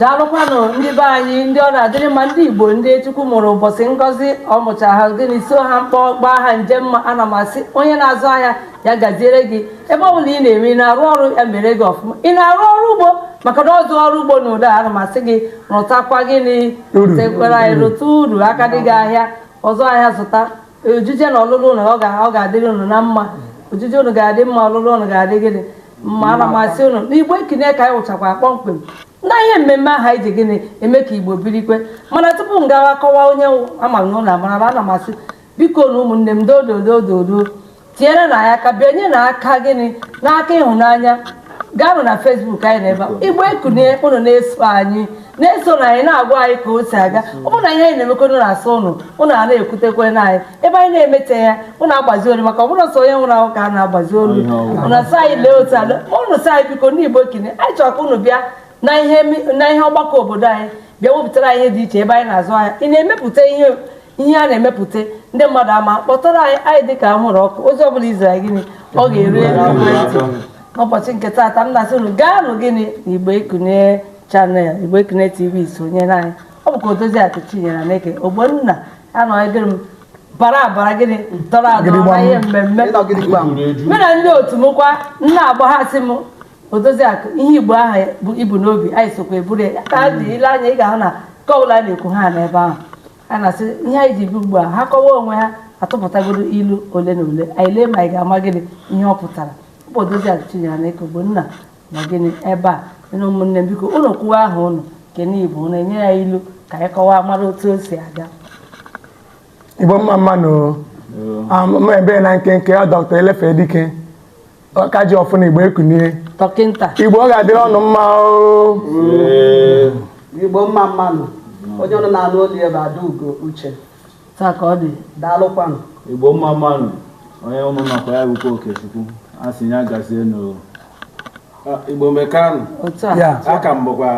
daalụkwanụ ndị be anyị ndị ọ na-adịrị mma ndị igbo ndị chukwu mụrụ ụbọchị ngọzi ọ mụcha ha gịnị so ha mkpọ gbaa ha nje mma ana m asị onye na-azụ ahịa ya gaziere gị ebe ọ bụla ị na-eme ị na-arụ ọrụ ya mere gị ọfụma ị na-arụ ọrụ ugbo maka ndị ọrụ ugbo na ụda ana m asị gị rụtakwa gịnị tekwara anyị rụta uru aka dị gị ahịa ọzụ ahịa zụta ojije na ọlụlụ ụnụ ọ ga- ọ ga-adịrị ụnụ na mma ojije ụnụ ga-adị mma ọlụlụ ụnụ ga-adị gịnị mma ana m asị ụnụ na igbo ekunie ka anyị wụchakwa kpọmkwem na ihe mmemme aha anyị ji gịnị eme ka igbo birikwe mana tupu m gawa kọwaa onye m wụ, ama m na ụnụ amarala ana m asị bikonụ ụmụnne m dododododo tinyerenụ anyị aka binye na aka gịnị n'aka ịhụnanya gaanụ na facebook anyị na ebe a igbo ekunie ụnụ na-eso anyị na-esonụ anyị na-agwa anyị ka o si aga ọ bụrụ na ihe anyị na-emekọdo na-asọ ụnụ ụnụ a na-ekwutekwe na anyị ebe anyị na-emeteghị ya ụnụ agbazi olu maka ọ bụghị sọ onye nwụrụ anwụ ka a na-agbazi olu ụnụ asị anyị lee otu ala ụnụ sị anyị biko ndị igbo ekunie anyị chọrọ ka ụnụ bịa na ihe ọgbakọ obodo anyị bịa wepụtara anyị ihe dị iche ebe anyị na-azụ ahịa ị na-emepụta ihe ihe a na-emepụta ndị mmadụ ama kpọtụrụnụ anyị anyị dị ka ahụrụ ọkụ ozi ọbụla i ziri gịnị ọ ga-eru elu ekwentị n'ụbọchị nke taata m na-asị unu gaanụ gịnị na igbo ekunie channel igbo ekunie tv sonyere anyị ọ bụkwa odozi akụ chinyere na eke ogbonna anọghịdịrị m bara abara gịnị tọrọ atọ na ihe mmemme mụ na ndị otu m kwa na-agba ha sị m Odoziakụ ihe Igbo ahụ i bu n'obi anyị sokwa eburu ya ka a dị ile anya ị ga-ahụ na nke ọbụla a na-ekwu ha n'ebe ahụ a na-asị ihe anyị ji bịa ugbu a ha kọwa onwe ha atụpụtagodu ilu ole na ole anyị lee ma anyị ga-ama gịnị ihe ọ pụtara bụ Odoziakụ Chinyere na Eke Ogbonna na gịnị ebe a na ụmụnne m biko unu kwuo aha unu kene Igbo unu enye anyị ilu ka anyị kọwaa mara otu o si aga Igbo mma mmanụ ebe na nkenke ọ dọkta elefe dike ọka ji ọfọ na igbo ekunie dọkịnta igbo ọ ga-adịrị ụnụ mma oo igbo mma mmanụ onye ụnụ na-anụ olu ya bụ adaugo uche taa ka ọ dị daalụkwanụ igbo mma mmanụ onye ụnụ nakwa ya bụkwa okechukwu a sị ya gazienụ igbo mekanụ otu a ya ka m bụkwa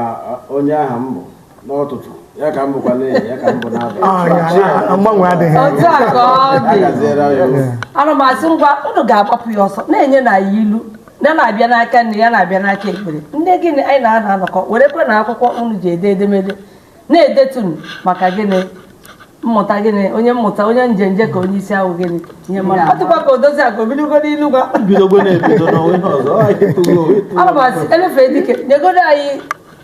onye aha m bụ n'ụtụtụ ya ka m bụkwa n'ehihie ya ka m bụ n'abalị Ah, ya, ya, mgbanwe adịghị otu a ka ọ a dị gaziere anyị ụzọ. ana m asị ngwa unu ga-agbapụ ya ọsọ na-enyenụ anyị ilu ya na-abịa n'aka nri ya na-abịa n'aka ekpe ndị gịnị anyị na-ana anọkọ werekwanụ akwụkwọ unu ji ede edemede na-edetunu maka gịnị mmụta gịnị onye mmụta onye njenje ka onye isi awọ gịnị ihe mara ọ dịkwa ka odozi akụ ebidogo n'ilu ngwa bidogo na-ebido n'onwe ihe ọzọ ọ anyị tụgo ana m asị elefe dike nyegodu anyị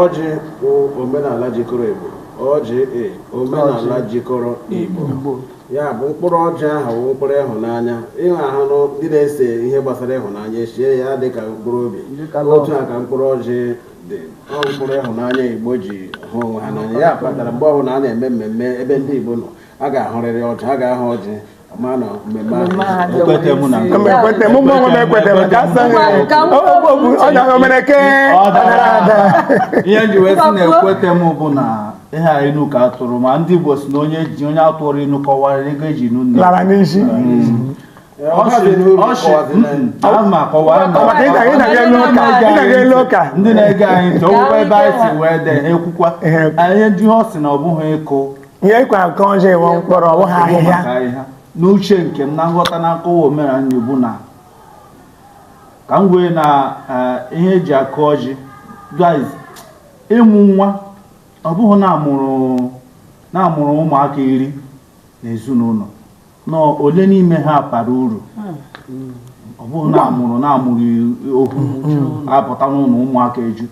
ọjị bụ omenala jikọrọ Igbo ọjị e omenala jikọrọ Igbo ya bụ mkpụrụ ọjị ahụ bụ mkpụrụ ịhụnanya ị ga-ahụ nụ ndị na-ese ihe gbasara ịhụnanya esee ya dị ka mkpụrụ obi otu a ka mkpụrụ ọjị dị ọ mkpụrụ ịhụnanya Igbo ji hụ onwe ha n'anya ya kpatara mgbe ọbụla a na-eme mmemme ebe ndị Igbo nọ a ga-ahụrịrị ọjị a ga-ahụ ọjị ekwete mụ na ekwete mụ mụ onwe ekwete m ka asa ọnya omereke ihe ji wee sị na ekwete m bụ na ihe a inu ka atụrụ ma ndị Igbo si na onye ji onye atụrụ inu kọwara ego eji nụ nne lara n'iyi ndị na-ege anyị ntị ọgwụgwọ ebe anyị si wee dee ekwukwa ihe ndị ọ sị na ọ bụghị ịkụ ihe ịkwa nke ọjị wụ mkpụrụ ọ bụghị ahịhịa n'uche nke m na nghọta na nkọwa omenala Igbo na ka m kwere na eh, ihe eji akụ ọjị guys ịmụ nwa ọ bụghị na amụrụ na amụrụ ụmụaka iri n'ezinụlọ na ole n'ime ha bara uru ọ bụrụ na amụrụ na amụrụ okwu apụta n'ụlọ ụmụaka eju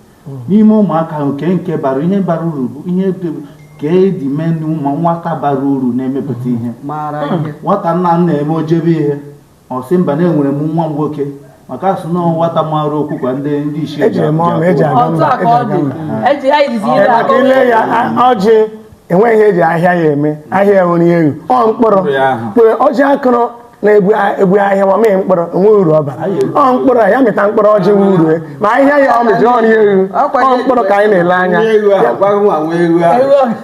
n'ime ụmụaka ahụ kee nke bara ihe bara uru bụ ihe ka edi mee na ịmụ nwata bara uru na-emepụta ihe nwata nna m na-eme o jebe ihe ọ sị mba na enwere m nwa nwoke maka asị na nwata mara okwu ka ndị ndị isi ejiri m ọnụ eji aga mba eji aga mba eji aga izu Ee, ire maka ile ya a- ọjị enweghị ihe eji ahịhịa ya eme ahịhịa ya nwere elu ọ mkpụrụ Mkpụrụ ya ahụ. mkpụrụ ọjị akụrụ na-ebu a- ebu ahịhịa ma mee mkpụrụ o nwe uru ọ bara ọ mkpụrụ a, ya mịta mkpụrụ ọjị wee urue ma ahịhịa ya ọ mịjiri ọrụ ya elu ọ mkpụrụ ka anyị na-ele anya Nwa ewu ahụ, gwa nwa nwa ewu ahụ.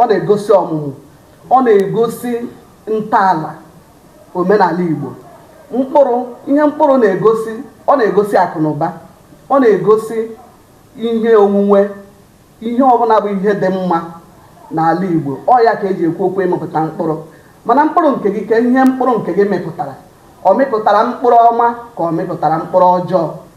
ọ na-egosi ọmụmụ ọ na-egosi ntọala omenala Igbo mkpụrụ ihe mkpụrụ na-egosi ọ na-egosi akụ na ụba ọ na-egosi ihe onwunwe ihe ọbụla bụ ihe dị mma n'ala Igbo ọ ya ka eji ekwu okwu ịmịpụta mkpụrụ mana mkpụrụ nke gị kee ihe mkpụrụ nke gị mịpụtara ọ mịpụtara mkpụrụ ọma ka ọ mịpụtara mkpụrụ ọjọọ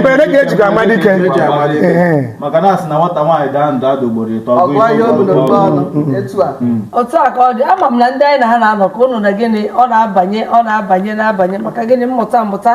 mberede ka ejikwa ama dike maka na asị na nwata nwaanyị daa ndụ ada ugboro ịtọ otu a ka ọ dị ama m na ndị anyị na ha na-anọ ka ụnụ na gịnị ọ na-abanye ọ na-abanye na-abanye maka gịnị mmụta mmụta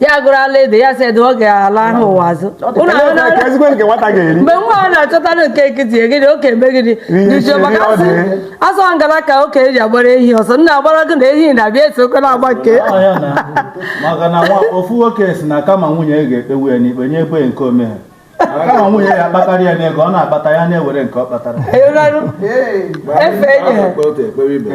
ya gụrụ ala ede ya sị ede ọ ga-ala ahụ ụwa azụ mgbe nwa a na-achọtara nke nkịtị egịdị oke eme gịnị dịjụọ maka asị ọ ngala ka okenye ji agbara ehi ọsọ na agwara gị na ehi na-abịa esi oke na-agba nke maka na ofu nwoke si na kama nwunye ga-ekpegbu ya n'ikpe nye ebe nke o meghị kama nwunye ya kpatara ya n'ego ọ na-akpata ya na-ewere nke ọ kpatara efe enyere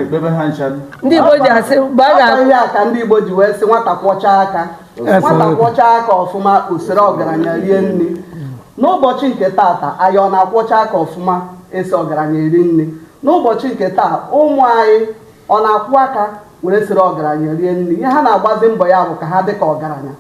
ekpebe ha ncha ndị Igbo ji asị mgbe a ga-akpọ ihe a ka ndị Igbo ji wee sị nwata kwọcha aka nwata kwọcha aka ọfụma o soro ọgaranya rie nri n'ụbọchị nke taata anyị ọ na-akwọcha aka ọfụma eso ọgaranya eri nri n'ụbọchị nke taa ụmụ anyị ọ na-akwọ aka were soro ọgaranya rie nri ihe ha na-agbazi mbọ ya bụ ka ha dị ka ọgaranya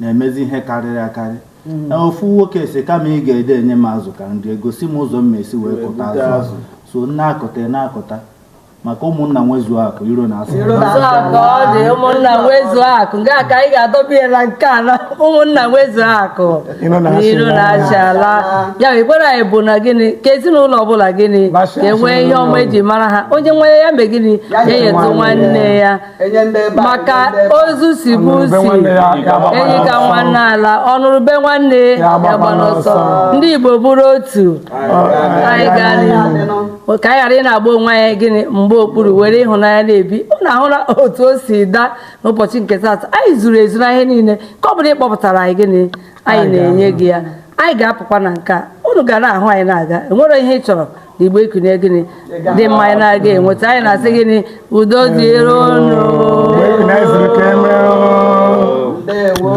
na-emezi ihe karịrị akarị hmm. ofu nwoke sị kama ị ga-ede enye m azụ ka m rie gosi m ụzọ m esi wee kụta azụ so na-akụta na-akụta maka ụmụnna nwezu akụ iro anaa a sị ụmụnna nwezu akụ nke a ka anyị ga-adọbiela nke a na ụmụnna nwezu akụ iro anaa achị ala ya ekpere anyị bụ na gịnị ka ezinụlọ ọbụla gịnị ka enwee ihe ọma eji mara ha onye nwere ya mee gịnị ya nyetụ nwanne ya maka ozu sibe isi enyi ka nwanne alaa ọnụrụ ube nwanne agbana ọsọ ndị Igbo bụrụ otu anyị gaa n'ihu ka anyị ghara ị na-agba onwe anyị gịnị mgba okpuru were ịhụnanya na-ebi unu ahụla otu o si daa n'ụbọchị nke taata anyị zuru ezu na ihe niile ka ọ bụla ị kpọpụtara anyị gịnị anyị na-enye gị ya anyị ga-apụkwa na nke a unu ga na-ahụ anyị na-aga enwere ihe ị chọrọ igbo ikunye gịnị dị mma anyị na-aga enweta anyị na-asị gịnị udo dịrị unu ndewo